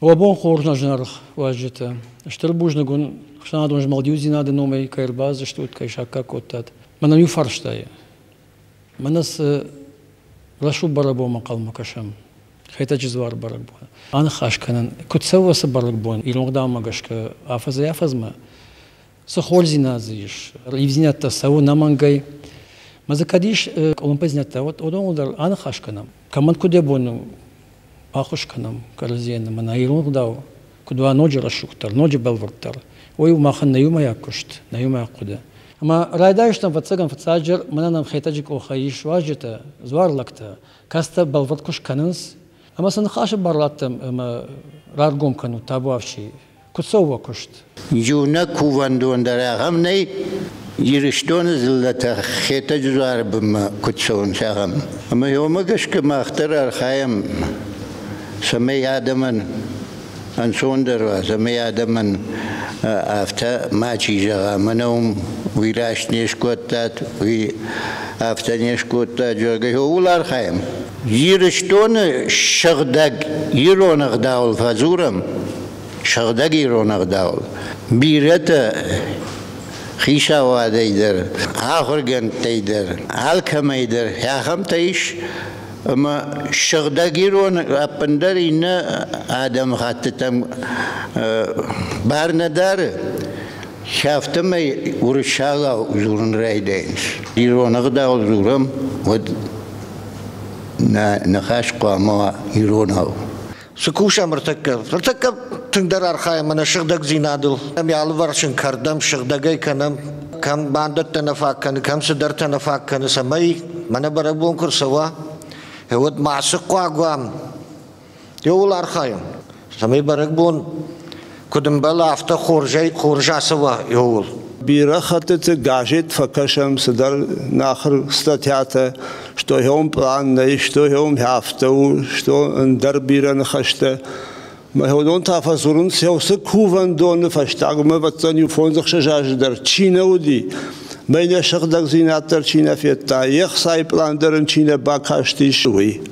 Уӕ бон хорз нӕ зынаргъ уазджытӕ! Стыр бузныг уын ӕхсӕнадон змӕлдиудзинады номӕй кӕй ӕрбаздзыстут, кӕй саккаг кодтат. Мӕнӕ иу фарстайы. Мӕнӕ цы рӕсугъд бӕрӕгбонмӕ хъӕлмӕ кӕсӕм. Хетӕджы Дзуары бӕрӕгбоны. Аныхас кӕнын, куыд цӕуы ацы бӕрӕгбон, ирон ӕгъдаумӕ гӕсгӕ афӕдзӕй афӕдзмӕ Цы хорздзинад дзы ис, ивдзинӕдтӕ цӕуы нӕмӕнгӕй. Мӕ дзы кӕд ис къуылымпыдзинӕдтӕ, уӕд уыдоныл дӕр аныхас кӕнӕм. Кӕмӕн куыд йӕ бон у, баххуыс кӕнӕм кӕрӕдзийӕн, ӕмӕ нӕ ирон ӕгъдау, куыд уа ноджы рӕсугъддӕр, ноджы бӕлвырддӕр, уый у махӕн нӕ иумӕйаг куыст, нӕ иумӕйаг хъуыды. Ӕмӕ райдайыстам, ӕвӕццӕгӕн, фыццаджыдӕр, мӕнӕ нӕм Хетӕджы къохӕй ис уазджытӕ, дзуар лӕгтӕ, кӕцытӕ бӕлвырд куы скӕнынц. Ӕмӕ сын ныхасы бар раттӕм ӕмӕ раргом кӕнут табуафси, Куы цӕуа куыст. Иунӕг кувӕндон дӕр ахӕм нӕй, Ирыстоны дзыллӕтӕ Хетӕджы дзуары бынмӕ куыд цӕуынц, ахӕм. Ӕмӕ уымӕ гӕсгӕ мах дӕр архайӕм, цӕмӕй адӕмӕн ӕнцондӕр уа, цӕмӕй адӕмӕн афтӕ мачи зӕгъа, мӕнӕ уым уый раст не скодтат, уый афтӕ не скодтат, зӕгъгӕ, ууыл архайӕм. Ирыстоны сыгъдӕг ирон ӕгъдауыл фӕдзурӕм, сыгъдӕг ирон ӕгъдауыл. Бирӕтӕ хицауадӕй дӕр, ахуыргӕндтӕй дӕр, алкӕмӕй дӕр ахӕмтӕ ис, ӕмӕ сыгъдӕг ирон ӕппындӕр иннӕ адӕмыхӕттытӕм бар нӕ дары. Афтӕмӕй уырыссагау дзурын райдайынц. Ирон ӕгъдауыл дзурӕм, уӕд Нӕ ныхас хъуамӕ уа иронау. Цы кусӕм ӕртӕккӕ? Ӕртӕккӕ тынгдӕр архайӕм ӕнӕ сыгъдӕгдзинадыл. Ӕм алыварсон кӕрдӕм сыгъдӕгӕй кӕнӕм, кӕм бандӕттӕ нӕ фаг кӕны, кӕм цыдӕртӕ нӕ фаг кӕны, цӕмӕй мӕнӕ бӕрӕгбон куы рцӕуа, уӕд ма цы хъуаг уӕм, Иууыл архайын, цӕмӕй бӕрӕгбон куыд ӕмбӕла, афтӕ хорзӕй хорз ацӕуа иууыл. Бирӕ хӕттыты газет фӕкӕсӕм цыдӕр нахыр статьятӕ, что йӕм план нӕй, что йӕм афтӕ у, что ӕндӕр бирӕ ныхӕстӕ. Мӕ та фӕдзурынц, йӕ уыцы кувӕндоны фӕстаг ӕмӕ иу фондзӕхсӕз азы дӕр чи нӕ уыди, мӕ нӕ сыгъдӕгдзинад дӕр чи нӕ федта, йе хцайы план дӕр ын чи нӕ бакастис, уый.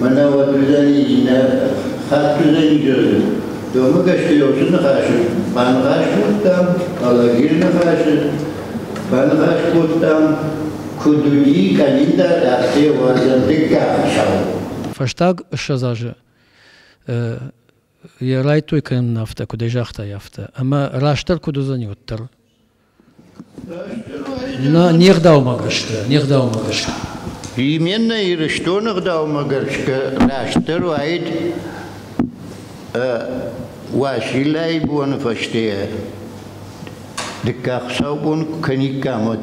Мӕнӕ уӕддӕр иннӕ хаттгузӕй Домы Гӕстӕйосы ныхасы баныхас кодтам, Алагиры ныхасы баныхас кодтам, куыд уыди къӕлиндар Ӕхсӕвуарзӕн дыккаг шоу. Фӕстаг ссӕдз азы йӕ райдтой кӕнӕм нын афтӕ, куыд ӕй загътай, афтӕ. Ӕмӕ растдӕр куыд уыдзӕни уӕддӕр? Нӕ, не гъдаумӕ гӕсгӕ, не гъдаумӕ гӕсгӕ. Именно Ирыстоны гъдаумӕ гӕсгӕ растдӕр уаид Уасилӕй боны фӕсте дыккаг саубон кӕниккам уӕд.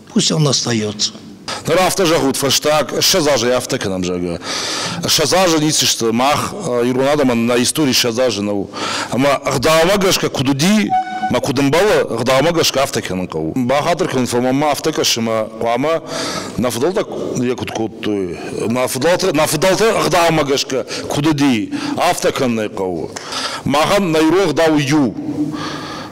Пусть он остается. Ныр афтӕ зӕгъут фӕстаг ссӕдз азӕй афтӕ кӕнӕм, зӕгъгӕ. Ссӕдз азы ницы сты. Мах, ирон адӕмӕн, нӕ истори ссӕдз азы нӕу. Ӕмӕ ӕгъдаумӕ гӕсгӕ куыд уыди, мӕ куыд ӕмбӕлы, ӕгъдаумӕ гӕсгӕ афтӕ кӕнын хъӕуы. Бахатыр кӕнын фӕлмӕн мӕ афтӕ кӕсы, ӕмӕ хъуамӕ нӕ фыдӕлтӕ йӕ куыд кодтой, нӕ фыдӕлтӕ, нӕ фыдӕлтӕ ӕгъдаумӕ гӕсгӕ куыд уыди, афтӕ кӕнын ӕй хъӕуы. Махӕн нӕ ирон ӕгъдау у иу.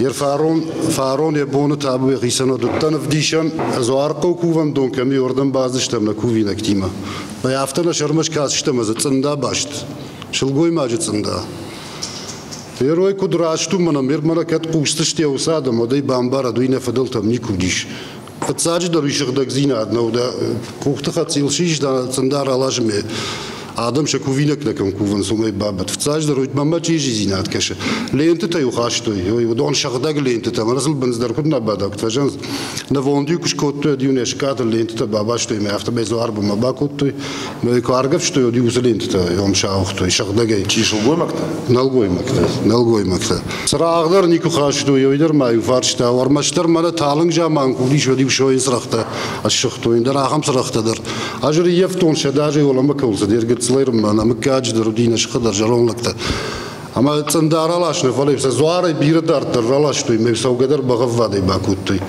Е фарон, фарон е бони табуй хицӕн удтӕн ӕвдисӕн, ӕзуархъо кувӕндон кӕми уордӕн баздзистӕм нӕ кувинӕгтимӕ. Бай афтӕ нӕ сӕрмӕ скӕсистӕм ӕз цъында баст, сылгоймаджы цъында. Терой куд раст у, мӕнӕ мер мӕнӕ кӕд хъустысте уыцы адӕм, уӕд ӕй бамбарӕд, уый нӕ фыдӕлтӕм никуы уыдис. Фыццаджыдӕр ис сыгъдӕгдзинад нӕу дӕ къухты хӕццӕ йыл сис дӕ цӕндӕр алазмӕ. Адӕм сӕ кувинӕгтӕ кӕм кувынц, уымӕй бабӕт. Фыццаджыдӕр уый мӕмӕ чи издзинад кӕсы. Лентытӕ-иу хастой, ой, уыдон сыгъдӕг лентытӕ, мӕ разыл бындз дӕр куыд нӕ бадӕгт фӕзӕнц. Нывонд-иу куы скодтой, ӕд-иу не скъӕтыл лентытӕ бабастой мӕ, афтӕмӕй дзуарбынмӕ бакодтой, Мӕ куы аргӕвстой, уӕд иу уыцы лентӕтӕ йон сауыгътой сыгъдӕгӕй. Чи сылгоймӕгтӕ? Нӕлгоймӕгтӕ. Нӕлгоймӕгтӕ. Сӕ раӕхдӕр никуы хастой, ӕви дӕр ма иу фарста, ӕрмӕстдӕр мӕнӕ талынг заман куыд ис, уӕд иу сойын цырӕгътӕ ӕссыгътой, ӕндӕр ахӕм цырӕгътӕ дӕр. Ӕз ӕрййӕфтон сӕ даже уӕлӕмӕ кӕуыл, де ргӕццыл ӕрмӕн, мыггаджы дӕр уыди, нӕ сыхы дӕр, зӕронд лӕгтӕ. Ӕма цъында раласна, фал сӕ дзуарӕй бирӕ дарддӕр раластой, ме цӕугӕдӕр бӕгъӕввадӕй бакодтой.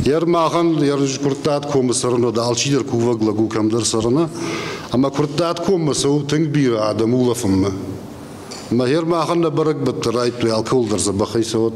Ер махӕн ер Курттат комы цӕрын уыд, алчидӕр кувӕг лӕг у кӕмдӕр цӕрыны, ӕмӕ Курттат коммӕ цӕуы тынг бирӕ адӕм улӕфынмӕ. Мӕ хер махӕн нӕ бӕрӕгбӕттӕ райдтой, алкӕуыл дӕр дзӕбӕхӕй цӕуӕд.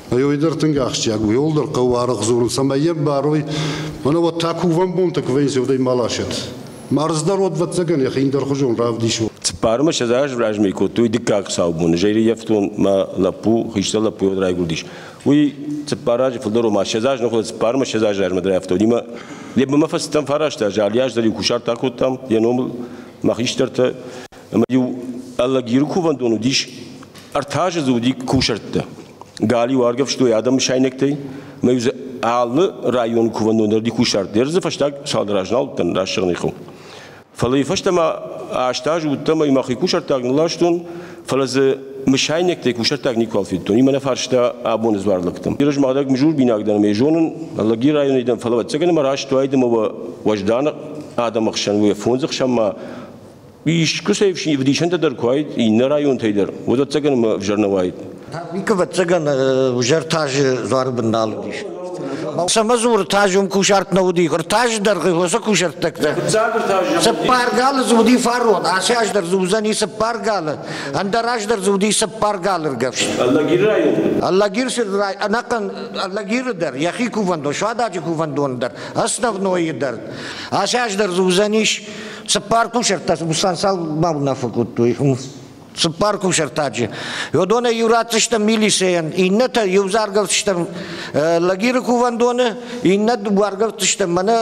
Ӕй дӕр тынг ахсджиаг у. Йол дӕр хъӕуы аргъ дзурын, цӕмӕй йӕ бӕрой, мӕнӕ уӕд та кувӕн бонтӕ куы вӕййынц, уӕдӕй ма ласӕт. Мӕрздӕр уӕд вӕццӕгӕн йӕхи ӕндӕрхуызон равдисон. Цыппармӕ седз аз размӕ кодтой дыккаг саубоны. Зӕйрыййӕфтон мӕ лӕппу, хистӕр лӕппу уӕд райгуырдис. Уый цыппар азы фылдӕр у, ма седз аз нӕ хуыд, цыппармӕ седз азы размӕ рафтауынимӕ. Лебы мӕ фӕцыдтӕн фарастӕ азы, алли аз дӕр иу кусарт акодтам, йӕ номыл мӕ хистӕртӕ. Ӕмӕ-иу Ӕлӕгиры кувӕндон уыдис ӕртӕ азы дзы уыди кусӕрттӕ. Галиу аргӕвстой адӕм сайнӕгтӕй, мӕ дзы алы районы кувӕндон ӕрди кусард. Дӕр дзы фӕстаг цалдӕр аз нал уыдтӕн раст зӕгъыны хыл. Фӕлӕ фӕстӕмӕ аст аз уыдтӕн ӕмӕ мӕхи кусӕрттаг нылластон, фӕлӕ дзы мысайнӕгтӕй кусӕрттаг никуал федтон. Имӕ нӕ фарста абоны дзуар лӕгтӕм. Ирызмӕлӕг мызурбинаг дӕн ӕмӕ зонын, Ӕлӕги районӕй дӕн, фӕлӕ ӕцӕгӕн ӕмӕ раст уайд ӕмӕ уӕ уӕзданы адӕмы хсӕн уӕ фондз ӕхсӕнмӕ Искуы сӕ ӕвдисӕнтӕ дӕр куы уаид иннӕ районтӕй дӕр, уӕд ӕцӕгӕн ӕмӕ ӕвзӕр нӕ уаид. Никуы ӕцӕгӕн узӕр тазы дзуары бын нал уыдис. Сӕмӕ дзуры таз уым кусарт нӕ уыди. Таз дӕргъы уыцы кусӕрттӕгтӕ. Цыппар галы дзы уыди фарон, ацы аз дӕр дзы уыдзӕни цыппар галы, ӕндӕр аз дӕр дзы уыди цыппар галы ргӕвст. Аллагиры район? Аллагиры рай... ӕнӕхъӕн Аллагиры дӕр, йӕхи кувӕндон, суададжы кувӕндоны дӕр, Основнойы дӕр. Ацы аз дӕр дзы уыдзӕнис Цыппар кусӕрттӕ Бусансал ма уынаффӕ кодтой. Цыппар кусӕртаджы. Уыдонӕй иу ратдзыстӕм милицийӕн, иннӕтӕ иу заргӕлдзыстӕм Лагиры кувӕндоны, иннӕ уаргӕлдзыстӕм мӕнӕ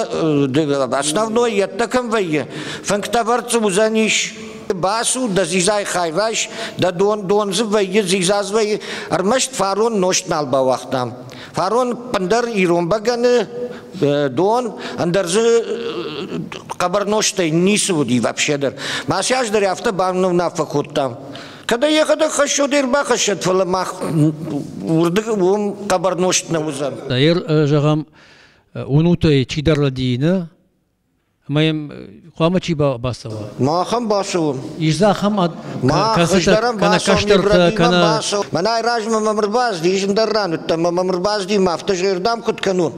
основной йеддӕ кӕм вӕййы. Фӕнгтӕвӕрд дзы уыдзӕнис Бацу дӕ дзизай хайвайс, дӕ дон дон дзы вӕййы, дзизаз вӕййы, ӕрмӕст фарон нозт нал бауагътам. Фарон пндӕр ирон бӕгӕны дон, ӕндӕр дзы хъӕбӕр нозтӕй ницы уыди вообще дӕр. Ма сейчас дӕр афтӕ бавнунаффӕ кодтам. Когда ехать хӕссет, ӕрбахӕссет, фӕлӕ мах уырдыг уым хъӕбӕр нозт нӕ уыдзӕн. Ир, зӕгъӕм, уынутӕй чидӕр лӕдийыны, ӕмӕ йӕм хъуамӕ чи бацӕуа? Махӕн бацӕуӕм. Ис дзы ахӕм кӕцытӕ кӕнӕ кӕстӕртӕ, кӕнӕ Мӕнӕй размӕ мӕм ӕрбазди, ис ӕндӕр ран уыдтӕн, мӕм ӕрбазди, мӕ афтӕ зӕрдӕм куыд кӕнон?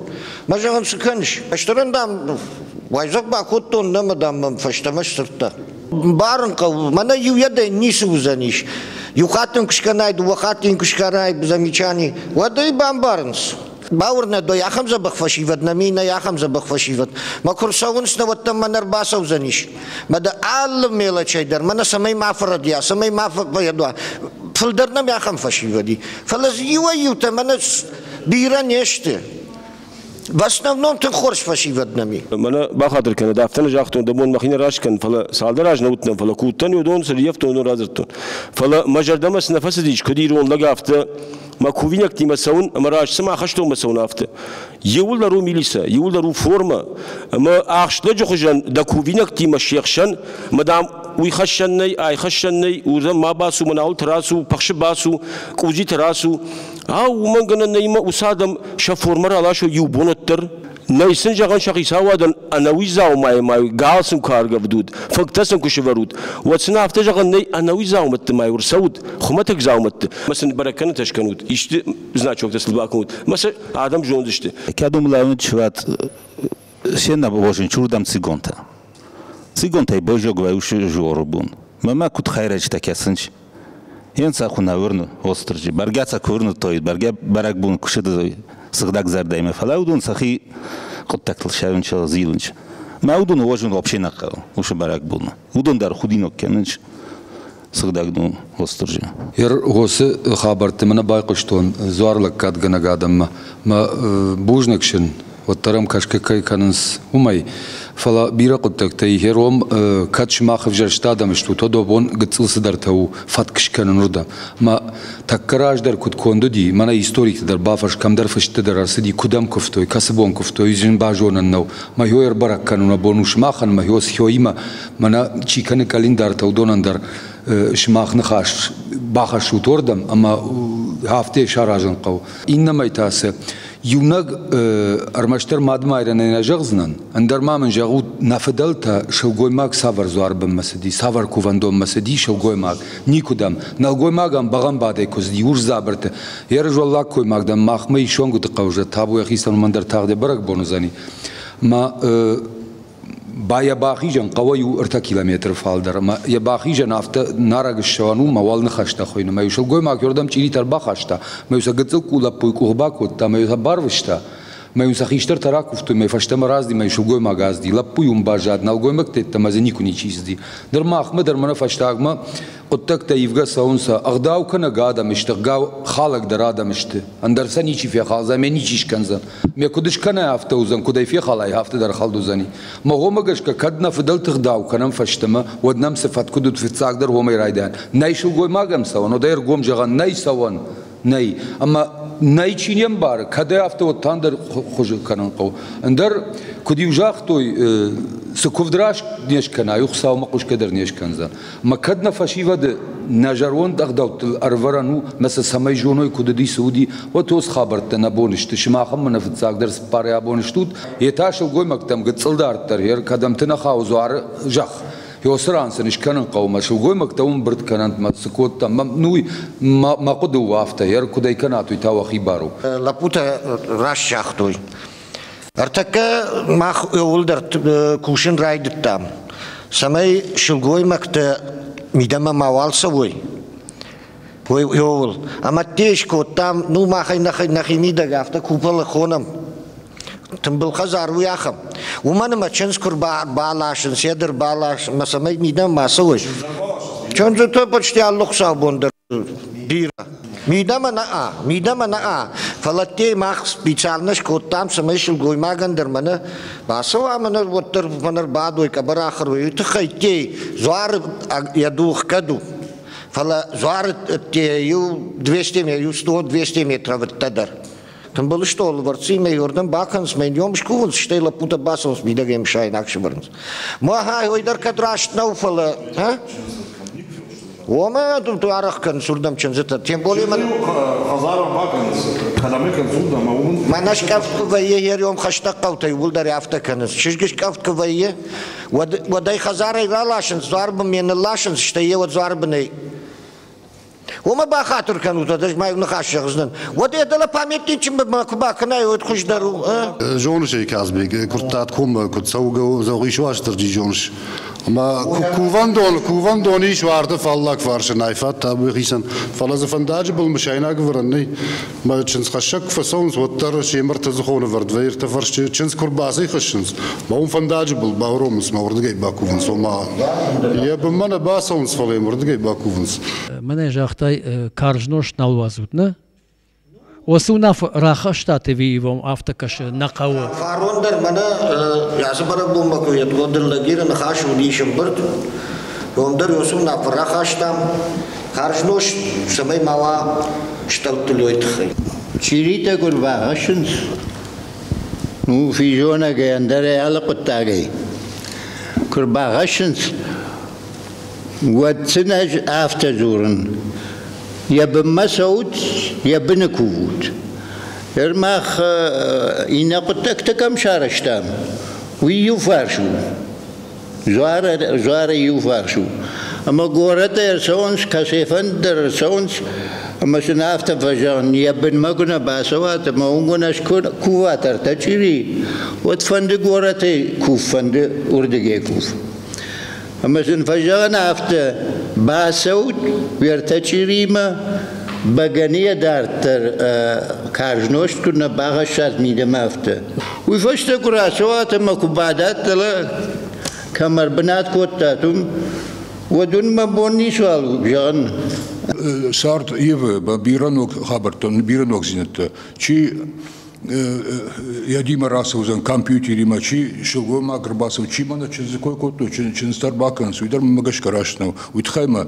Мӕ зӕгъын цы кӕныс? Кӕстӕрӕн, дам, уайдзӕф бакодтон нӕмӕ, дам, мӕм фӕстӕмӕ сдзырдта. Барын хъӕуы, мӕнӕ иуӕдӕй ницы уыдзӕнис. Иу хатт йын куы скӕнай, дыууӕ хатты йын куы скӕрай замечани, уӕд ӕй бамбарынц. Бауырнӕдой, ахӕм дзӕбӕх фӕсивӕд нӕми нӕй ахӕм дзӕбӕх фӕсивӕд. Мӕ куы рцӕуынц, нӕ уӕддӕр мӕ нӕ ӕрбацӕудзӕнис. Мӕ дӕ алы мелочӕй дӕр, мӕнӕ цӕмӕй ма фӕрӕдия, цӕмӕй ма фӕбаядуа. Фылдӕр нӕм ахӕм фӕсивӕд и. Фӕлӕ дзы иуӕй-иутӕ мӕнӕ бирӕ не сты. В основном тынг хорз фӕсивӕд нӕм и. Мӕнӕ бахатыр кӕнӕд, афтӕ нӕ загътон, де бон мӕхи нӕ раст кӕн, фӕлӕ цалдӕр аз нӕ уыдтӕн, фӕлӕ куы уыдтӕн уыдон, цы риӕфтон, уыдон радзырдтон. Фӕлӕ мӕ зӕрдӕмӕ цы нӕ фӕцыдис, куыд ирон лӕг, афтӕ мӕ кувинӕгтимӕ цӕуын ӕмӕ раст цыма хӕстонмӕ цӕуын афтӕ иууылдӕр у милицӕ иууылдӕр у формӕ ӕмӕ ахст лӕджы хуызӕн дӕ кувинӕгтимӕ се хсӕн ӕмӕ дам уый хӕссӕн нӕй ай хӕссӕн нӕй уырдӕм ма бацу мӕнӕуылты рацу пахсы бацу къудзиты рацу ау уымӕн гӕнӕн нӕй ма уыцы адӕм сӕ формӕ раласой иу бонад дӕр Нӕй сын зӕгъӕн сӕ хицауадӕн ӕнӕуи дзаумайы мӕй гал сын куы аргӕвдут, фынгтӕ сын куы сывӕрут, уӕд сын афтӕ зӕгъӕн нӕй ӕнӕуи дзаумӕтты мӕй ӕрцӕут, хуымӕтӕг дзаумӕтты. Ма сын бӕрӕг кӕнытӕ скӕнут, исты значоктӕ сыл бакӕнут, ма сӕ адӕм зондзысты. Кӕд умлӕуnt шват сена вошен чурдам цигонта. Цигонтӕй бӕзӕг вайусы жоры бон. Мӕмӕ куыд хайрӕджытӕ кӕсынч, Енцахуна уырны Остырджи. Бӕргӕ сӕ ку уырнудтой, бӕргӕ бӕрӕгбон кусӕд сыгъдӕг зӕрдӕймӕ, фӕлӕ уыдон сӕхи хъуыддӕгтыл сӕрынч зилынч. Мӕ уыдон уозун вообще нӕ хъӕуы уышы бӕрӕгбонмӕ. Уыдон дӕр худинаг кӕнынч сыгъдӕг дон Остырджи. Ир гъосы хабӕртты мӕ нӕ байхъуыстон дзуар лӕггадгӕнӕг адӕммӕ. Мӕ бузныг сын уӕддӕр ӕм кӕсгӕ кӕй кӕнынц, уымӕй. Фӕлӕ бирӕ хъуыддӕгтӕй гъеrom, кӕд сымах ӕвзӕрст адӕм стут, уӕд уӕ бон гыццыл цыдӕртӕ у фӕтк скӕнын уырдӕм. Мӕ тӕккӕ раздӕр куыд конд уыди, мӕнӕ историты дӕр бафӕрс, кӕмдӕр фысты дӕр ӕрцыди, куыдӕм куывтой, кӕцы бон куывтой, зын базонӕн нӕу. Мӕхо ӕрбӕрӕг кӕнын уӕ бон у сымахӕн, мӕхо схоимӕ, мӕнӕ чи кӕны къӕлиндартӕ, уыдонӕн дӕр сымах ныхас бахӕссут уырдӕм, ӕмӕ афтӕ саразын хъӕуы. Иннӕмӕй та цы, Иунӕг ӕрмӕстдӕр мадмайрӕнӕй нӕ зӕгъдзынӕн, ӕндӕр ма мын зӕгъут, нӕ фыдӕлтӕ сылгоймаг цавӕр дзуарбынмӕ цыди, цавӕр кувӕндонмӕ цыди сылгоймаг? Никуыдӕм. Нӕлгоймагӕн бӕгъӕмбадӕй куы цыди, урс дзабырты. Йе рызӕллаг коймаг дӕм махмӕ ис Сонгуыты хъӕуы зӕд табу йӕхицӕн уымӕн дӕр тагъд йӕ бӕрӕгбон уыдзӕни. Мӕ Ба йӕ бахизӕн хъӕуӕй у ӕртӕ километры фалдӕр ӕмӕ йӕ бахизӕн афтӕ нарӕг ссӕуӕн у мӕ уал ныхӕстӕ хуыйны мӕ иу сылгоймаг уырдӕм чъиритӕ ӕрбахаста мӕ иу сӕ гыццыл къул лӕппуйы къух бакодта мӕ иу сӕ барвыста мӕ иу сӕ хистӕртӕ ракуывтой мӕ фӕстӕмӕ разди мӕ сылгоймаг азди лӕппу уым баззад нӕлгоймӕгты ӕддӕмӕ дзы никуы ничи ссыди дӕр махмӕ дӕр мӕнӕ фӕстагмӕ Хъуыддӕгтӕ ивгӕ цӕуынцӕ, ӕгъдау кӕнӕг адӕм стыгъгау хӕлӕг дӕр адӕм сты. Ӕндӕр сӕ ничи фехалдзӕн, ме ничи скӕндзӕн. Ме куыд скӕнай, афтӕ уыдзӕн, куыд ӕй фехалай, афтӕ дӕр хӕлд уыдзӕни. Мӕ гъомӕ гӕсгӕ, кӕд нӕ фыдӕлты гъдау кӕнӕм фӕстӕмӕ, уӕд нӕм цы фӕткъуыд уыд фыццагдӕр уомӕй райдайӕн. Нӕй сылгоймаг ӕм цӕуӕн, уӕдӕй ӕргом зӕгъӕн нӕй цӕуӕн. Нӕй. Ӕмӕ нӕй чи не мбары, кӕдӕй афтӕ уӕддӕр хуызы кӕнын хъӕуы. Ӕндӕр, куыд иу загътой, цы куывд раст не скӕна, уый Хуыцаумӕ хъусгӕ дӕр не скӕндзӕн. Ӕмӕ кӕд нӕ фӕсивӕды нӕ зӕронд ӕгъдӕуттыл ӕрвӕрӕн у, ӕмӕ сӕ цӕмӕй зоной, куыд уыди, цы уыди, уӕд уыцы хабӕрттӕ нӕ бон сты, сымахӕн мӕнӕ фыццагдӕр цыппарӕй абон стут, йе та сылгоймӕгтӕм гыццыл дарддӕр, йӕ кӕдӕмты нӕ хауы дзуары зӕхх, Йосы ран сын скӕнын хъӕумӕ, сылгоймӕгтӕ уым бырд кӕнӕнт мӕ цы кодтам, ну мӕ хъуыды у афтӕ, йӕ куыдӕй кӕнат, уый та уӕхи бар у. Лӕппутӕ раст загътой. Ӕртӕккӕ мах иууылдӕр кусын райдыдтам, цӕмӕй сылгоймӕгтӕ мидӕмӕ мауал цӕуой. Ой, ууыл. Ӕмӕ те скодтам, ну махӕй нӕхи мидӕг афтӕ куполы хонӕм. Тымбыл хӕдзар у ахӕм. Уымӕн ӕмӕ чындз куы баласынц, йӕ дӕр балас, мӕ цӕмӕй мидӕмӕ ма цӕуыс? Чындзыты почти алы хуыцаубон дӕр бирӕ. Мидӕмӕ нӕ, мидӕмӕ нӕ, фӕлӕ дӕ мах специально скодтам, цӕмӕй сылгоймагӕн дӕр мӕнӕ бацӕуа мӕнӕ уӕддӕр мӕнӕ рбадой, къӕбӕрахыр уой, уый тыххӕй дӕ дзуары йӕ дух кӕд у. Фӕлӕ дзуары дӕ иу 200 иу 100-200 метры вӕдтӕ дӕр. Тымбыл стъолы бӕрци мӕ уырдӕм бакӕнынц, мӕ ном скувынц, стӕй лӕппутӕ бацӕуынц мидӕгӕй сайынаг сывӕрынц. Махӕй ой дӕр кӕд раст нӕу, фӕлӕ. Ӕ? Омӕ арӕх кӕнынц уырдӕм чындзытӕ, тем более мӕ... Хӕдзармӕ бакӕнынц, кӕдӕм кӕнцуд ӕмӕ уым... Мӕнӕ скъӕфт куы вӕййы йӕ риом хӕстӕг хъӕутӕй уыдӕр афтӕ кӕнынц. Чызг скъӕфт куы вӕййы, уӕд, уӕд ӕй хӕдзарӕй раласынц, дзуарбын ме нылласынц, стӕй йӕ уӕд дзуарбынӕй Уомӕ бахатур кӕнут, ӕз мӕ ныхас зӕгъдзӕн. Уӕд йӕ дӕлӕ памятничынмӕ куы бакӕнай, уӕд хуыздӕр у. Зоныс ӕй, Казбег, куырдтат коммӕ, куыд цӕугӕ зӕгъис Уастырджи, зоныс? Ӕмӕ кувӕндон, кувӕндон ис уарды фаллаг фарсынӕй фӕтӕбӕхицӕн, фӕлӕ дзы фӕндаджы был мысайнаг ӕвӕрӕн нӕй. Чындзхӕссӕг куы фӕцӕуынц, уӕддӕр семырты зыхоны вӕрдвӕй ӕртӕ фӕрсчы чындз куы рбацӕй хӕссынц, мӕ уым фӕндаджы был бауромынц мӕ уырдыгӕй бакувынц, ома. Йӕ бынмӕ нӕ бацӕуынц, фӕлӕ йӕм уырдыгӕй бакувынц. Мӕнӕ загътай, карз нозт нал уадзут, нӕ? Уыцы уынаффӕ рахастат ӕви ивон афтӕ кӕсы нӕ хъӕуы? Фарон дӕр мӕнӕ разы бӕрӕгбонмӕ куы йедгондӕр лӕгиры ныхас уыди сымбырд, ном дӕр уыцы уынаффӕ рахастам, Хӕрзнос, цӕмӕй мала стӕлдтылой тыххӕй. Чиритӕ гур бахӕссынц? Ну, физонӕгӕй, ӕндӕрӕй алы хъуыддагӕй. Куы рбахӕссынц, уӕд сын ӕз афтӕ дзурын. Йӕ бынмӕ цӕут, йӕ быны кувут. Ныр мах иннӕ хъуыддӕгтӕ кӕм сарӕзтам, уый иу фарс у. Жуары иуварс у, ӕмӕ горӕты ӕрцӕуынц, кӕцыфӕнды дӕр ӕрцӕуынц, ӕмӕ сын афтӕ фӕзӕгъын, йӕ бынмӕ куы нӕ бацӕуат ӕмӕ уым куы нӕ скуват ӕртӕ чъири, уӕд фӕнды горӕты кув, фӕнды уырдыгӕй кув. Ӕмӕ сын фӕзӕгъын афтӕ, бацӕут уе ртӕ чъиримӕ, бӕгӕныйӕ дарддӕр карз нозт куы нӕ бахӕссат мидӕмӕ афтӕ. Уый фӕстӕ куы рацӕуат ӕмӕ куы бадат дӕлӕ, кӕм ӕрбынат кодтат, уым, уӕд уын мӕ бон ницуал у зӕгъын. Сӕрд Евы бирӕног хабӕрттӕн, бирӕ ногдзинӕдтӕ, чи йӕдимӕ рацӕудзӕн компьютеримӕ, чи сылгоймаг ӕрбацӕуы, чи мӕнӕ чындзы кой кодтой, чындзтӕ ӕрбакӕнынц, уый дӕр мӕмӕ гӕсгӕ раст нӕу. Уый тыххӕй мӕ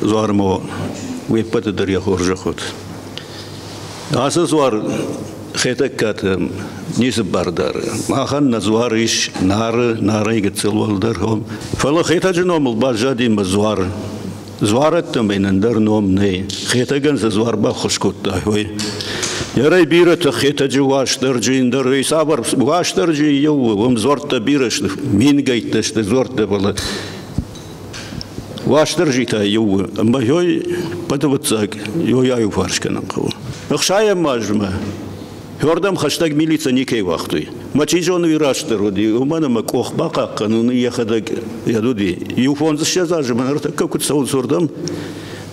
дзуар ма уе ппӕты дӕр йӕ хорзӕх уӕд. Ацы дзуар Хетӕгкаты ницы бар дары. Махӕн нӕ дзуар ис Нары, Нарӕй гыццыл уӕлдӕр ном. Фӕлӕ Хетӕджы номыл баззади мӕ дзуар. Дзуарӕдтӕмӕй ӕндӕр ном нӕй. Хетӕгӕн цы дзуар баххуыс кодта, ой. Ярӕй бирӕтӕ Хетӕджы Уастырджи, ӕндӕр цавӕр Уастырджи иу, уым дзуӕрттӕ бирӕ сты, мингӕйттӕ сты дзуӕрттӕ, фӕлӕ Уастырджитӕ иу у, ӕмӕ йой хъӕдывыццаг йой аиуварс кӕнын хъӕуы. Ӕхсайӕм азмӕ Хордӕм хӕстӕг милицӕ никӕй уагътой. Мӕ чи зоны, уый растдӕр уыди, уымӕн ӕмӕ къох бахъахъхъӕнын йӕхӕдӕг йӕд уыди. Иу фондзыссӕдз азы мӕ ныртӕккӕ куыд цӕуынц уырдӕм,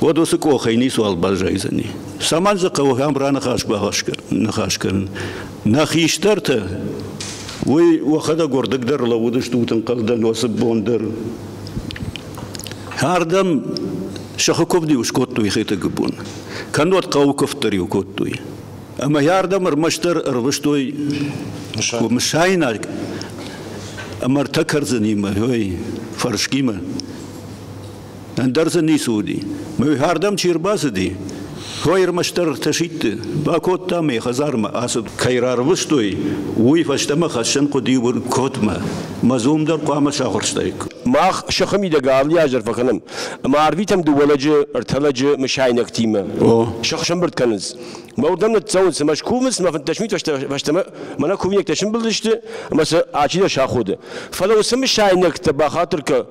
уӕд уыцы къохӕй ницуал баззайдзӕни. Цӕмӕн дзы хъӕуы ахӕм раныхас бахӕс кӕнын? Нӕ хистӕртӕ уый уӕхӕдӕг уырдыгдӕр лӕууыдыстут ӕнхъӕлдӕносы бон дӕр. Ардӕм сыхы куывд-иу скодтой хетӕгы бон, кӕннод хъӕуы куывд дӕр-иу кодтой. Ӕмӕ ардӕм ӕрмӕстдӕр ӕрвыстой мысайнаг ӕмӕ ӕртӕ кӕрдзынимӕ, ой, фӕрскимӕ. Ӕндӕр дзы ницы уыди. Мӕйхӕрдӕм чи ӕрбацыди, хо ӕрмӕстдӕр ӕртӕ сидты бакодта мӕ хӕдзармӕ ацыд. Кӕй рарвыстой, уый фӕстӕмӕ хӕссӕн хъуыди Уыркотмӕ. Мӕ зум дӕр хъуамӕ сахуырстаик. Мах сыхы мидӕг алы аз дӕр фӕкӕнӕм ӕмӕ арвитӕм дыууӕ лӕджы, ӕртӕ лӕджы мысайнӕгтимӕ. Сых сӕмбырд кӕнынц. Мӕ уырдӕм ныццӕуынц, цымӕ скувынц, мӕ фынддӕсмин фӕстӕмӕ мӕнӕ кувинӕгтӕ сымбылдысты ӕмӕ сӕ ачидӕр саходы. Фӕлӕ уыцы мысайнӕгтӕ бахатыр кӕ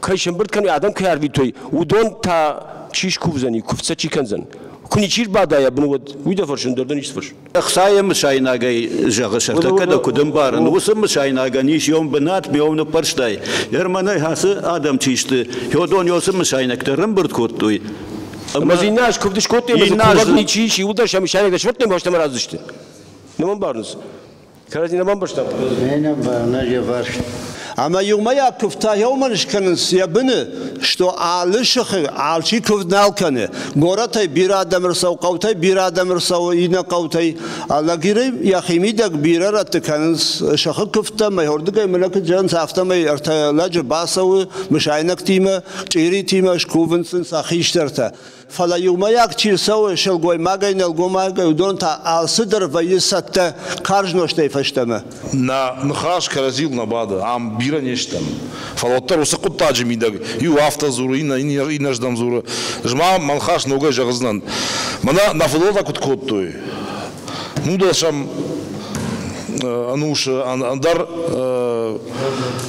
кӕй сӕмбырд кӕны адӕм кӕй арвитой уыдон та чи скувдзӕни куывдтӕ чи кӕндзӕн куы ничи рбадайа бын уӕд уый дӕ фӕрсын дӕр дӕ ницы фӕрсын ӕхцайы мысайнагӕй зӕгъы сӕртӕккӕ дӕ куыд ӕмбарын уыцы мысайнагӕн ис ем бынат ме ныппӕрстай ермӕнӕй ацы адӕм чи сты хёдон ёсы мысайнӕгтӕ рымбырд кодтой ӕмӕ иннӕ аз куывд скодтой ӕмӕ куывд ничи ис иуыл дӕр сӕ мысайнӕгтӕ сфӕрдтон бӕстӕмӕ радзысты нӕ мӕ мбарынц Кӕрӕдзին ӕмбӕрстам? Нӕ нӕ ӕвӕрст. Ӕмӕ иумӕйаг куывдтӕ еумӕ скӕнынц йӕ быны, што алы сыхы алчи куывд нал кӕны. Горӕтӕй бирӕ адӕм ӕрцӕуы, хъӕутӕй бирӕ адӕм ӕрцӕуы иннӕ хъӕутӕй. Лӕгирӕй йӕхимидӕг бирӕ рӕтты кӕнынц сыхы куывдтӕ, мӕйордыгӕй мӕнӕ куыд зӕгъынц, афтӕмӕй ӕртӕ лӕджы бацӕуы мысайнӕгтимӕ, чъиритимӕ, скувынц сын сӕ хистӕртӕ. Фӕлӕ иумӕйаг чи рцӕуы, сылгоймагӕй, нӕлгоймагӕй, уыдон та алцыдӕр вӕййы цӕттӕ карз нозтӕй фӕстӕмӕ. Нӕ ныхас кӕрӕдзийыл нӕ бады, ам бирӕ не стӕм. Фӕлӕ уӕддӕр уыцы хъуыддаджы мидӕг иу афтӕ дзуры, иннӕрдӕм дзуры, ӕз ма мӕ ныхас ногӕй зӕгъдзынӕн, мӕнӕ нӕ фыдуылӕнтӕ куыд кодтой, Нудосӕм ӕнусы ӕндӕр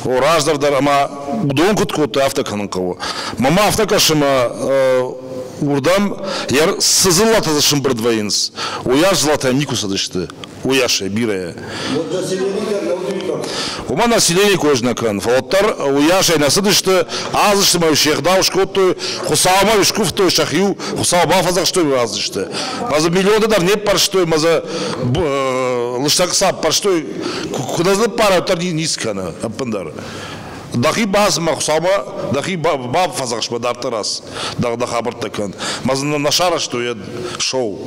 о, раздӕр дӕр ӕмӕ уыдон куыд кодтой, афтӕ кӕнын хъӕуы. Мамӕ афтӕ кӕсы мӕ уырдӕм, йӕ цы дзыллӕтӕ дзы сымбырд вӕййынц, уыйас дзыллӕтӕ никуы цыдысты, уыйасӕй бирӕ. Уымӕ население кой знакан. Фӕлддӕр уыйасӕй нӕ цыдысты, аздысты се гъдау скодтой, Хуыцаумӕ скуывтой сӕхиу, Хуыцау бафӕдзӕхстой аздысты. Мӕ дзы миллионты дӕр не ппӕрстой, мӕ дзы лыстӕг цап ппӕрстой, куыд ныппарӕм, дӕр ниц кӕны ӕппындӕр. Дӕхи базмӕ, Хуцаумӕ дӕхи баб фӕдзӕхс мӕ дарддӕр ас дӕ дӕ хабӕрттӕ кӕн. Мӕ зын нӕ сарӕзтой ед шоу.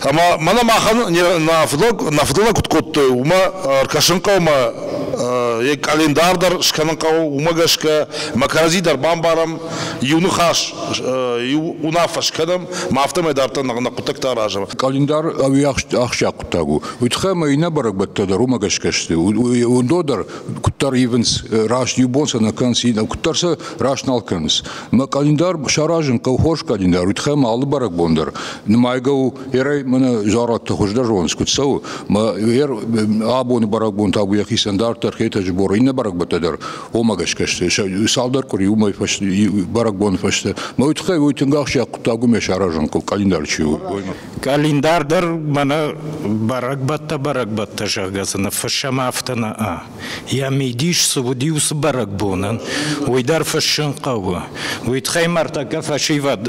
Ӕма мӕнӕ махӕн нӕ фӕдӕлӕ куд кодтой, уымӕ ӕркӕсын хъӕумӕ, йе къалендар дӕр скӕнын хъӕуы, уымӕ гӕсгӕ мӕ кӕрӕдзи дӕр бамбарӕм, иу ныхас, иу уынаффӕ скӕнӕм, ма афтӕмӕй дарддӕр нӕ хъуыддӕгтӕ аразӕм. Къалендар ӕвиахсджиаг хъуыддаг у. Уый тыххӕй ӕмӕ иннӕ бӕрӕгбӕттӕ дӕр уымӕ гӕсгӕ сты. Уыдон дӕр куыддӕр ивынц, раст иу бон сӕ нӕ кӕнынц, куыддӕр сӕ раст нал кӕнынц. Мӕ къӕлиндар саразын хъӕуы хорз къӕлиндар, уый тыххӕй мӕ алы бӕрӕгбон дӕр нымайгӕ у, ерӕй мӕнӕ зӕрӕдты хуыздӕр зонынц, куыд цӕуы. Мӕ абоны бӕрӕгбон та у йӕхицӕн дарддӕр Хетӕджы Боры иннӕ бӕрӕгбӕттӕ дӕр омӕ гӕсгӕ сты. Цалдӕр къуыри уымӕй фӕсте, бӕрӕгбоны фӕстӕ. Мӕ уый тыххӕй уый тынг ахсджиаг хъуыддаг уымӕ саразын хъӕуы, къӕлиндар чи у. Къӕлиндар дӕр мӕнӕ бӕрӕгбӕттӕ-бӕрӕгбӕттӕ, зӕгъгӕ дзы ныффыссӕм афтӕ нӕ. Йӕ мидис цы уыди уыцы бӕрӕгбонӕн, уый дӕр фыссын хъӕуы. Уый тыххӕй ма ӕртӕккӕ фӕсивӕд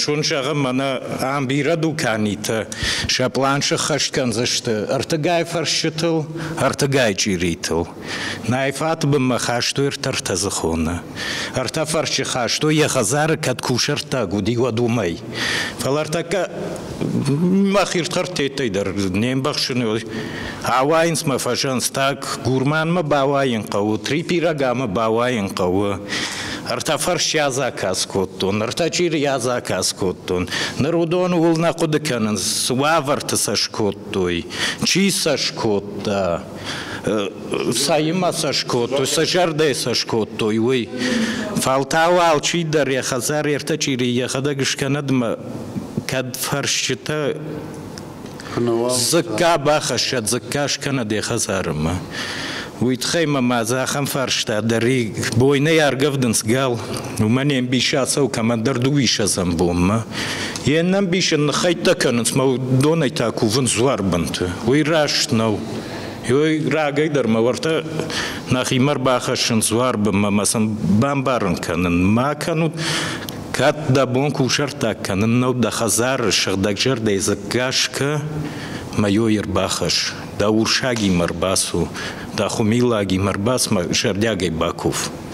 зон зӕгъӕм мӕнӕ ам бирӕ дуканитӕ сӕ план сыххӕст кӕндзысты ӕртыгай фӕрсчытыл, ӕртыгай чъиритыл. Найфаты бынмӕ хастой ӕртӕртӕдзыхоны. Ӕртӕ фӕрсчы хастой, йӕ хӕдзары кӕд кусӕрттаг уыди, уӕд уымӕй. Фӕлӕ ӕртӕккӕ мах ирдхӕрдтӕй дӕр не мбӕхсыны ауайынц мӕ фӕзӕнц, так гурманмӕ бауайын хъӕуы, трипирагамӕ бауайын хъӕуы. Ӕртӕ фӕрсчы адзаказ кодтон, ӕртӕ чъирийы адзаказ кодтон. Ныр уыдон ууыл нӕ хъуыды кӕнынц, цы уавӕрты сӕ скодтой, чи сӕ скодта. Цаимӕ сӕ скодтой, сӕ зӕрдӕ сӕ скодтой, уый. Фӕлтау алчидӕр йӕ хӕдзар ертӕ чъири йӕхӕдӕг скӕнӕдмӕ, кӕд фӕрсчытӕ дзыкка бахӕсса, дзыкка скӕнӕд йӕ хӕдзарымӕ. Уый тыххӕй мӕ мӕ ахӕм фарста дӕр и, бойнӕй аргӕвдынц гал, Уымӕн йе мбисы ацӕуы кӕмӕндӕр дыууиссӕдзӕм бонмӕ. Йе нӕмбисы ныххӕйттӕ кӕнынц, мӕ донӕй та кувынц дзуарбынты. Уый раст нӕу. Ой, рагӕй дӕр мӕ уӕртӕ нӕхимӕ ӕрбахӕссын дзуарбынмӕ мӕ сын бамбарын кӕнын. Ма кӕнут, кӕд дӕ бон кусӕрттаг кӕнын нӕу дӕ хӕдзары сыгъдӕгзӕрдӕйы дзыхъ гӕсгӕ, мӕ йой ӕрбахӕсс, дӕ урсагимӕ ӕрбацу, дӕ хуымилагимӕ ӕрбацу мӕ зӕрдиагӕй бакув.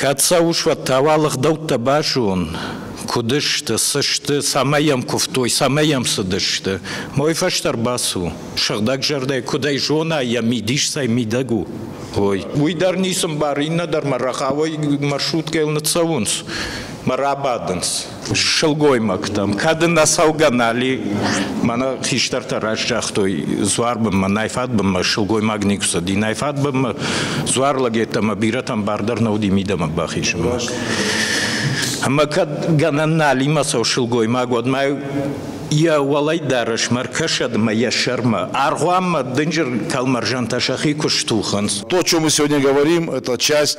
Кӕд сӕ ус уӕдтауа лыгъдӕуттӕ базон, куыд сты, цы сты, цӕмӕй йӕм куывтой, цӕмӕй йӕм цыдысты. Мой фӕстӕ ӕрбацу, сыгъдӕг зӕрдӕйы куыдӕй зона, йӕ мидис цӕй мидӕг у, уой. Уый дӕр ницы мбары, иннӕ дӕр мӕ рӕгъауӕй маршруткӕйыл ныццӕуынц мӕ рабадынц. сылгоймӕгтӕм. Кӕд ын ацӕугӕ нали, мӕнӕ хистӕртӕ раст загътой, дзуар бынмӕ, найфад бынмӕ сылгоймаг никуы цыди. Найфад бынмӕ дзуар лӕгӕттӕ ӕмӕ бирӕтӕн бар дӕр нӕ уыди мидӕмӕ бахисын. Ӕмӕ кӕд гӕнӕн налимӕ цӕуы сылгоймаг, уӕд ма йӕ уӕлӕдарӕс мӕ ркӕсӕд ӕмӕ йӕ сӕрмӕ. Аргъуанмӕ дынджыр кӕлмӕрзӕнтӕ сӕхи куы стухынц. То, о чем мы сегодня говорим, это часть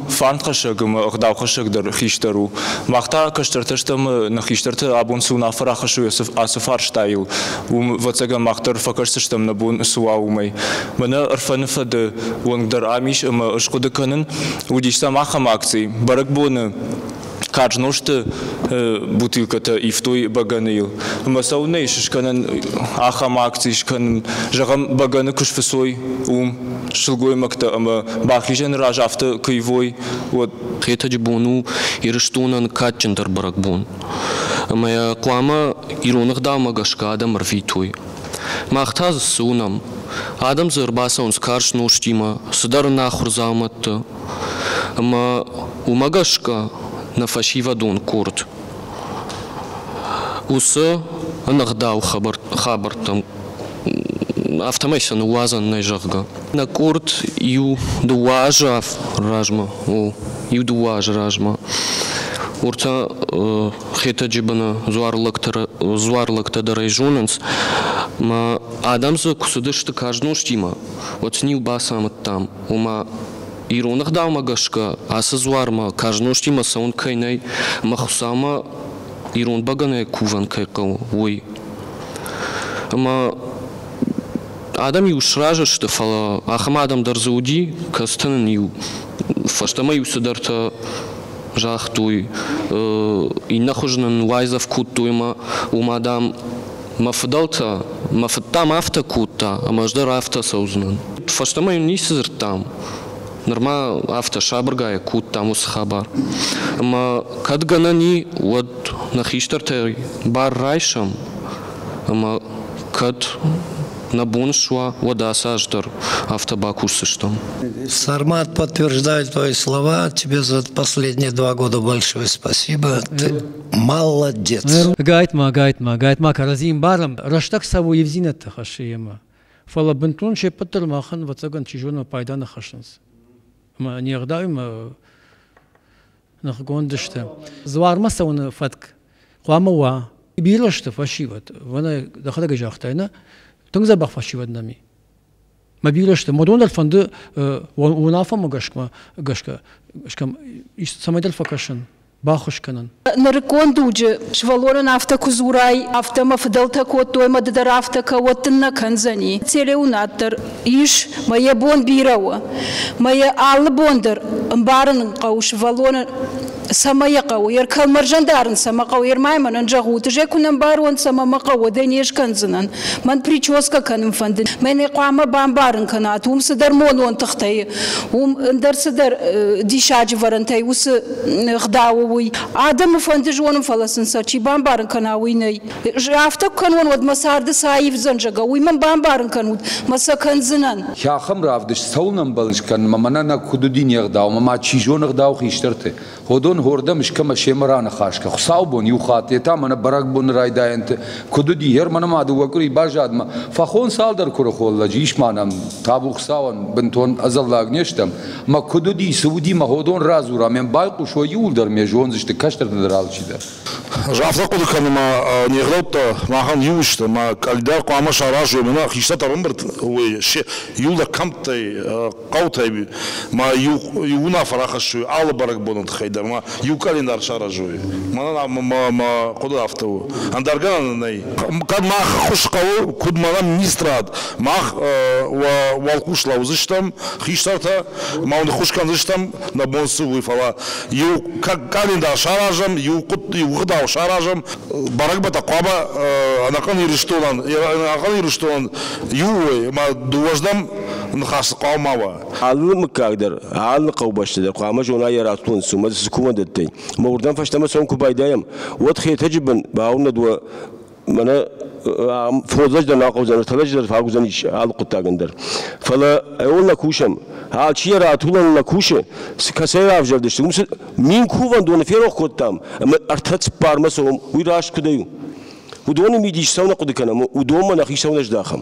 Фӕндхӕссӕг ӕмӕ ӕгъдаухӕссӕг дӕр хистӕр у. Мах та кӕстӕртӕ стӕм, нӕ хистӕрты абон цы уынаффӕ рахӕссой ацы фарстайыл, уым, ӕвӕццӕгӕн, мах дӕр фӕкӕсдзыстӕм, нӕ бон цы уа, уымӕй. Мӕнӕ ӕрфӕны фӕды уӕнг дӕр ам ис ӕмӕ ӕз хъуыды кӕнын, уыдис сӕм ахӕм акци, бӕрӕгбоны Карз нозты бутылкӕтӕ ивтой бӕгӕныйыл. Ӕмӕ цӕуылнӕ ис скӕнӕн ахӕм акци скӕнын? Зӕгъӕм, бӕгӕны куы сфыцой, уым сылгоймӕгтӕ ӕмӕ бахизӕны раз афтӕ куы ивой, уӕд. Хетӕджы бон у Ирыстонӕн кадджындӕр бӕрӕгбон. Ӕмӕ йӕ хъуамӕ ирон ӕгъдаумӕ гӕсгӕ адӕм ӕрвитой. Мах та дзы цы уынӕм? Адӕм дзы ӕрбацӕуынц карз нозтимӕ, цыдӕр ӕнахуыр дзаумӕтты. Ӕма уомӕ гӕсгӕ нӕ фӕсивӕдон къорд уыцы ӕнӕгъдау хабӕрттӕм афтӕмӕй сӕ ныууадзӕн нӕй зӕгъгӕ. Нӕ къорд иу дыууӕ азы размӕ, о, иу дыууӕ азы размӕ уыртӕ Хетӕджы быны дзуарлӕгтӕ дӕр ӕй зонынц, мӕ адӕм дзы куы цыдысты казнозтимӕ, уӕд сын-иу бацамыдтам, ома ирон ӕгъдаумӕ гӕсгӕ ацы дзуармӕ карз нозтимӕ цӕуын кӕй нӕй ӕмӕ Хуыцаумӕ ирон бӕгӕнайы кувӕн кӕй хъӕуы, уый. Ӕмӕ адӕм иу сразы сты, фӕлӕ ахӕм адӕм дӕр дзы уыди, кӕцытӕ нын иу фӕстӕмӕ-иу цыдӕртӕ загътой, иннӕ хуызы нын уайдзӕф кодтой ӕмӕ уымӕ, дам, Мӕ фыдӕлтӕ, мӕ фыд дӕм афтӕ кодта, ӕмӕ ӕз дӕр афтӕ цӕудзынӕн. Фӕстӕмӕ йын ницы дзырдтам. Нырма афтӕ сабыргай кодтам уыцы хабар. Ӕмӕ кӕд гӕнӕн и, уӕд нӕ хистӕртӕй бар райсӕм, ӕмӕ кӕд нӕ бон суа, уӕд ацы аз дӕр афтӕ бакусдзыстӕм. Сармат подтверждает твои слова. Тебе за последние два года большое спасибо. Ты Молодец! Гайт-ма, гайт-ма, гайт-ма, кӕрӕдзийы ӕмбарӕм, рӕстӕг цӕуы ивдзинӕдты хӕссы йемӕ. Фӕлӕ бынтон се ппӕт дӕр махӕн, ӕвӕццӕгӕн, чи зоны, пайда нӕ хӕссынц. Ӕмӕ не гъдауимӕ ныхгонд сты. Дзуармӕ цӕуыны фӕтк хъуамӕ уа. Бирӕ сты фӕсивӕд. Ванӕ дӕхӕдӕг ӕй загътай, нӕ? Тынг дзӕбӕх фӕсивӕд нӕм и. Мӕ бирӕ сты. Мадон дӕр фӕнды уынаффӕмӕ гӕсгӕ, гӕсгӕ скӕм, цӕмӕйдӕр фӕкӕсын, баххуыс кӕнын. Нырыккон дуджы сывӕллонӕн афтӕ куы дзурай, афтӕ мӕ фыдӕлтӕ кодтой, мӕ ды дӕр афтӕ кӕ, уӕд дын нӕ кӕндзӕни. Телеуынад дӕр ис, мӕ йӕ бон бирӕ у. Мӕ йӕ алы бон дӕр ӕмбарын хъӕуы сывӕллоны Цӕмӕ йӕ хъӕуы? Йӕ кӕлмӕрзӕн дарын цӕмӕ хъӕуы? Йе рмӕй мӕнӕн зӕгъут, ызӕй куы нӕ мбарон, цӕмӕ мӕ хъӕуы, дӕ не скӕндзынӕн. Мӕн прическӕ кӕнын фӕнды. Мӕн ӕй хъуамӕ бамбарын кӕнат, уым цыдӕр монон тыхтӕ и, уым ӕндӕр цыдӕр диссаджы вӕрӕнтӕ и уыцы гъдауы, уый. Адӕмы фӕнды зонын, фӕлӕ сын сӕ чи бамбарын кӕна, уый нӕй. афтӕ куы кӕнон, уӕд мӕ царды цы аивдзӕн, зӕгъгӕ, уый мӕм бамбарын кӕнут, мӕ сӕ кӕндзынӕн. Хахӕм равдыст цӕуын ӕмбӕлыс кӕнынмӕ, мӕнӕ нӕ куыд уыди не гъдау, ӕмӕ ма чи зоны гъдау хистӕрты. Ходон хордӕм искӕмӕ семӕ раныхас кӕ. Хуыцаубон иу хатт, йе та мӕнӕ бӕрӕгбоны райдайӕнты куыд уыди, гьер мӕнӕ ма дыууӕ къуыри баззадмӕ, фахон цалдӕр куырыхон лӕджы ис ма нӕм, табу Хуыцауӕн, бынтон ӕдзӕллаг не стӕм, ӕмӕ куыд уыди, цы уыди, мӕ ходон радзура, ме мбайхъус уӕ иууылдӕр ме зондзысты кӕстӕрты дӕр алчидӕр. Ӕз афтӕ хъуыды кӕнын ма не гъдӕуттӕ махӕн иу сты, ма когда хъуамӕ саразой мӕнӕ хистӕр ӕмбырд уый се июлы кӕмттӕй, хъӕутӕй ма иу иу уынаффӕ рахӕссой алы бӕрӕгбоны тыххӕй дӕр, ма иу календарь саразой. Мӕнӕ мӕ мӕ хъуыды афтӕ у. Ӕндӕр гӕнӕн нӕй. Кӕд мах хуыз хъӕуы, куыд мӕнӕ министрад, мах уӕ уӕлхъус лӕудзыстӕм хистӕртӕ, ма уын хуыз кӕндзыстӕм, нӕ бон цы у, фӕлӕ иу кандидат саразӕм, иу, хъуыд, иу гъдау саразӕм. Бӕрӕгбӕттӕ хъуамӕ ӕнӕхъӕн Ирыстонӕн, ӕнӕхъӕн Ирыстонӕн иу уой, ӕмӕ дыууӕздӕм ныхас хъуамӕ ма уа. Алы мыггаг дӕр, алы хъӕубӕсты дӕр хъуамӕ зона йӕ радтон суммӕ цы кувӕндӕттӕй. Мӕ уырдӕм фӕстӕмӕ цӕуын куы байдайӕм, уӕд Хетӕджы бын бауынӕд уӕ Мӕнӕ фодзӕдждӕр нахъаудзӕн, фӕлӕдждӕр фагуыдзӕн ис алы хъуыддагӕн дӕр. Фӕлӕ ӕууыл нӕ кусӕм. Алчи йӕ ратулӕныл нӕ кусы, кӕцӕй равзӕрдысты, уым мин кувӕндоны ферох кодтам, ӕмӕ ӕртӕ цыппармӕ цӕуӕм, уый раст куыдӕй у. Уыдоны мидис цӕуын нӕ хъуыды кӕнӕм, уыдонмӕ нӕхи цӕуын нӕ здахӕм.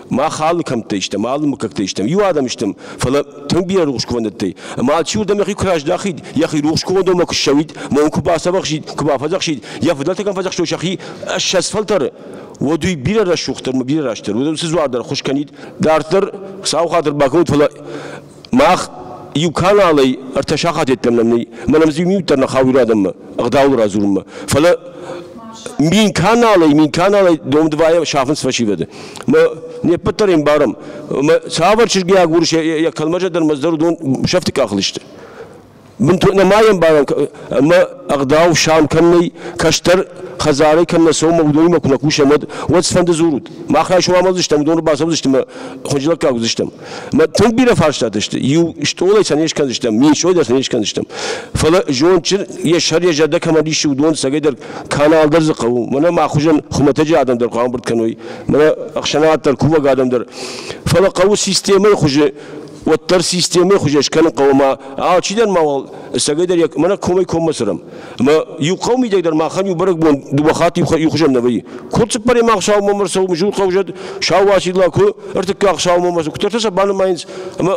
Мах алы кӕмттӕ стӕм, алы мыггӕгтӕ стӕм, иу адӕм стӕм, фӕлӕ тынг бирӕ рухсгӕнӕндӕй. Ӕмӕ алчиуырдӕм йӕхи куы раздахид, йӕхи рухсгӕнӕндонмӕ куы ссӕуид, ном куы бацӕвӕхсид, куы бафӕдзӕхсид, йӕ фыдӕлтӕ кӕм фӕдзӕхстой сӕхи, ӕссӕдз фӕлтӕры, уӕд уый бирӕ рӕсугъддӕр ӕмӕ бирӕ растдӕр уыд, уыцы дзуар дӕр ӕххуыс кӕнид. Дарддӕр Хуыцауы хатыр бакӕнут, фӕлӕ Мах иу каналӕй ӕртӕ сахат йеддӕмӕ нӕй, мӕнӕ иу минут дӕр нӕ хауы иу адӕммӕ ӕгъдауыл радзурынмӕ. Фӕлӕ мин каналӕй, мин каналӕй дом дывайӕ сафынц фӕсивӕды. Мӕ не ппӕт дӕр ӕмбарӕм. Мӕ цавӕр чызгайаг урс йӕ кӕлмӕрзӕ дӕр мӕ дӕр уыдон сӕфты къахыл сты. Мин нӕма ембарӕн ӕма ӕгъдау сам кӕннӕй, кӕстӕр хӕдзарӕй кӕннӕ сомӕ уыдонимӕ куы нӕ кусӕм, уӕд уӕд цыфӕнды дзурут. Мах райсом амардзыстӕм, уыдоны бацӕудзыстӕм ӕмӕ хынджылӕггаг уыдзыстӕм. Мӕ тынг бирӕ фарстатӕ сты. Иу стъолӕй сӕ не скӕндзыстӕм, мин стъолӕй дӕр сӕ не скӕндзыстӕм. Фӕлӕ зондджын, йӕ сӕр, йӕ зӕрдӕ кӕмӕн иссы, уыдон цӕгӕйдӕр кӕнал дӕр дзы хъӕуы. Мӕнӕ мӕ хуызӕн хуымӕтӕджы адӕм дӕр хъуамбырд кӕной. Мӕнӕ ӕхсӕнад дӕр, кувӕг адӕм дӕр. Фӕлӕ хъӕуы системӕйы хуызы уӕддӕр системӕ хуызӕн скӕнын хъӕуы ӕмӕ алчи дӕр мауал ӕцӕгӕй дӕр мӕнӕ комӕй коммӕ цӕрӕм ӕмӕ иу хъӕу мидӕг дӕр махӕн иу бӕрӕгбон дыууӕ хатт иу хуызӕн нӕ вӕййы куыд цыппӕремах саумӕ ӕрцӕуы мызул хъӕу зӕд сау уацилла куы ӕртыккаг саумӕ ӕрцӕуы куыддӕртӕ сӕ банымайынц ӕмӕ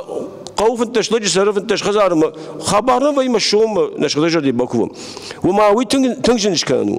хъӕуы фынддӕс лӕджы цӕры фынддӕс хӕдзары ӕмӕ хабар нӕ вӕййы ӕмӕ соммӕ нӕ сыгъдӕй зӕрдӕ бакувӕм уымӕ уый тынг зын скӕнӕн у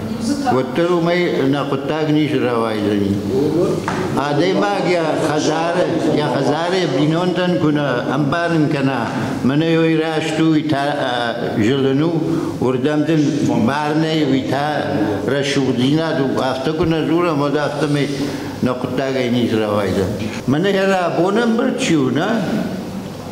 уӕддӕр уымӕй нӕ хъуыддаг низ рауайдзӕни. Адӕймаг йӕ хӕдзары, йӕ хӕдзары бинонтӕн куынӕ ӕмбарын кӕна, мӕнӕ уый раст у, уый та зылын у, уырдӕм дын марынӕй уый та рӕсугъддзинад у, афтӕ куы нӕ дзурӕм, уӕд афтӕмӕй нӕ хъуыддагӕй низ рауайдзӕн. Мӕнӕ йӕ рабон ӕмбырд чи у, нӕ?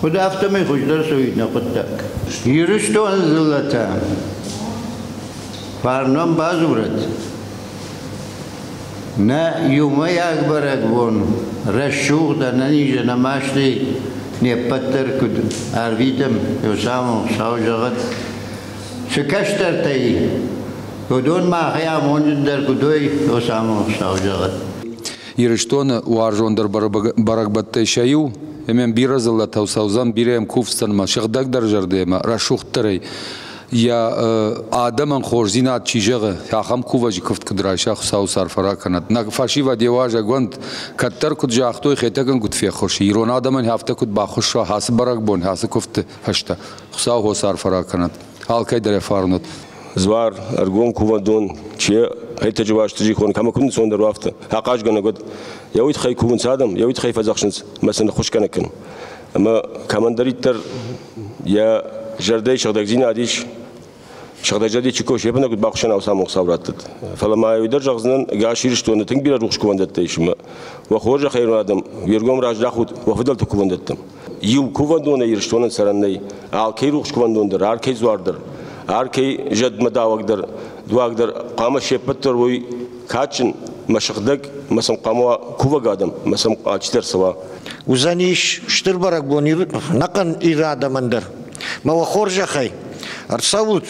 Куыд афтӕмӕй хуыздӕр суид нӕ хъуыддаг. Ирыстоны дзыллӕтӕ фарнон бадзурӕд. Нӕ иумӕйаг бӕрӕгбон рӕсугъд ӕнӕниз ӕнӕ мастӕй не ппӕт дӕр куыд ӕрвитӕм, еу самон сау зӕгъӕд. Цы кӕстӕртӕй, уыдон махӕй амонджындӕр куд уой, еу самон сау зӕгъӕд. Ирыстоны уарзондӕр бӕрӕгбӕттӕй сӕ иу ӕмӕ бирӕ дзыллӕтау цӕудзӕн бирӕ кувдзтӕнмӕ сыгъдӕгдӕр зӕрдӕмӕ, рӕсугъддӕрӕй. йӕ адӕмӕн хорздзинад чи зӕгъы, ахӕм кувӕджы куывд куыд райса, Хуыцауы сӕрфӕ ракӕнӕд. Нӕ фӕсивӕд йӕ уазӕгуӕнд кӕддӕр куыд загътой, Хетӕгӕнгуыд феххуыс, ирон адӕмӕн афтӕ куыд баххуысса ацы бӕрӕгбон, ацы куывдты фӕстӕ. Хуыцау уӕ сӕрфӕ ракӕнӕд. Алкӕйдӕр фарнат. Звар, ӕргом кувӕндон, че Айтаджы уазты зихон кӕмӕ куынны цон дӕр уафты, ахъазгӕнӕг уӕд, йӕ уид хай кувынц адӕм, йӕ уид хай фӕдзӕхсынц, мӕ сын хуыскӕнӕг кӕн. Ӕмӕ кӕмӕндӕриддӕр йӕ зӕрдӕйы сыгъдӕгдзинад ис, сыгъдӕгзӕрди чи кусы, йӕ бынат куыд бахуыссӕн аусамон Хуыцау раттӕд. Фӕлӕ ма уый дӕр зӕгъдзынӕн, ӕгас Ирыстоны тынг бирӕ рухс кувӕндӕттӕ ис, ӕмӕ уӕ хорзӕх айрон адӕм, уе ргом раздахут уӕ фыдӕлты кувӕндӕттӕм. иу кувӕндонӕй Ирыстонӕн цӕрӕн нӕй, алкӕй рухс кувӕндон дӕр, алкӕй дзуар дӕр, алкӕй зӕдмӕдауӕг дӕр, дуаг дӕр хъуамӕ се ппӕт дӕр уой кадджын, мӕ сыгъдӕг, мӕ сӕм хъуамӕ уа кувӕг адӕм, мӕ сӕм алчидӕр цӕуа. Уыдзӕнис стыр бӕрӕгбон ӕнӕхъӕн Иры адӕмӕн дӕр. Мӕ уӕ хорзӕхӕй, ӕрцӕут,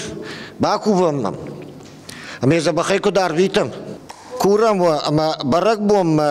бакувӕм мӕм. Ӕмӕ дзӕбӕхӕй куыд арвитӕм? Курӕм уӕ ӕмӕ бӕрӕгбонмӕ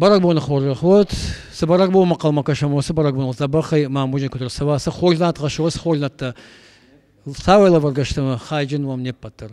Бӕрӕгбоны хорзӕх уӕд. Цы бӕрӕгбонмӕ хъӕлмӕ кӕсӕм, уыцы бӕрӕгбоныл дзӕбӕхӕй ма музей куыд ӕрцӕуа, цы хорздзинад хӕссы уыцы хорздзинӕдтӕ, цавӕр лӕвӕргӕ сты хайджын уӕм не ппӕт дӕр.